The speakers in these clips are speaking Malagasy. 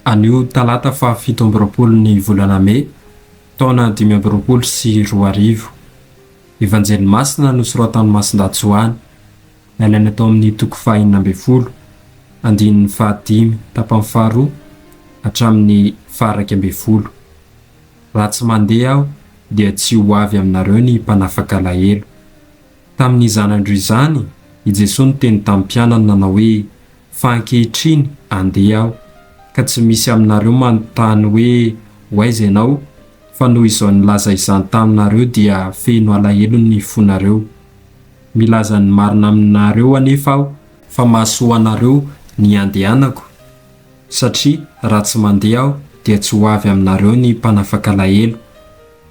Anio talata faha fito amby roapolo ny volana mey taona dimy amby roapolo sy roa arivo. Evanjely masina nosoratan'i Masindahy Joany, nalaina tao amin'ny toko faha enina ambin'ny folo, andininy faha dimy tapany faha roa hatramin'ny faha iraika ambin'ny folo. Raha tsy mandeha aho dia tsy ho avy aminareo ny mpanafaka alahelo. Tamin'izany andro izany, i Jesoa niteny tamin'ny mpianany nanao hoe, Fa ankehitriny andeha Aho, ka tsy misy aminareo manontany hoe, Hoaiza Ianao? Fa noho izao nilaza izany taminareo dia feno alahelo ny fonareo. Milaza ny marina aminareo anefa Aho, fa mahasoa anareo ny handehanako, satria raha tsy mandeha Aho dia tsy ho avy aminareo ny mpanafaka alahelo.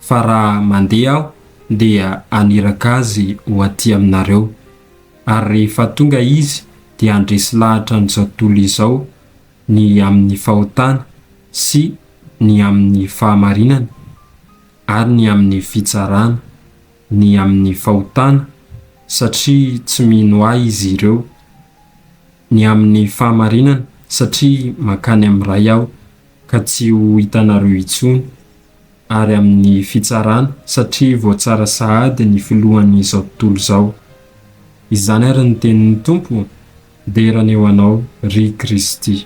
fa raha mandeha aho dia haniraka azy ho aty aminareo, ary rehefa tonga izy dia handresy lahatra an'izao tontolo izao ny amin'ny fahotana sy ny amin'ny fahamarinana, ary ny amin'ny fitsarana, ny amin'ny fahotana, satria tsy mino ahy izy ireo. ny amin'ny fahamarinana satria mankany amin'ny Ray aho ka tsy ho hitanareo intsony, ary amin'ny fitsarana satria voatsara sahady ny filohan'izao tontolo izao. Izany ary ny tenin'ny Tompo, Dera ny eo anao, ry Kristy.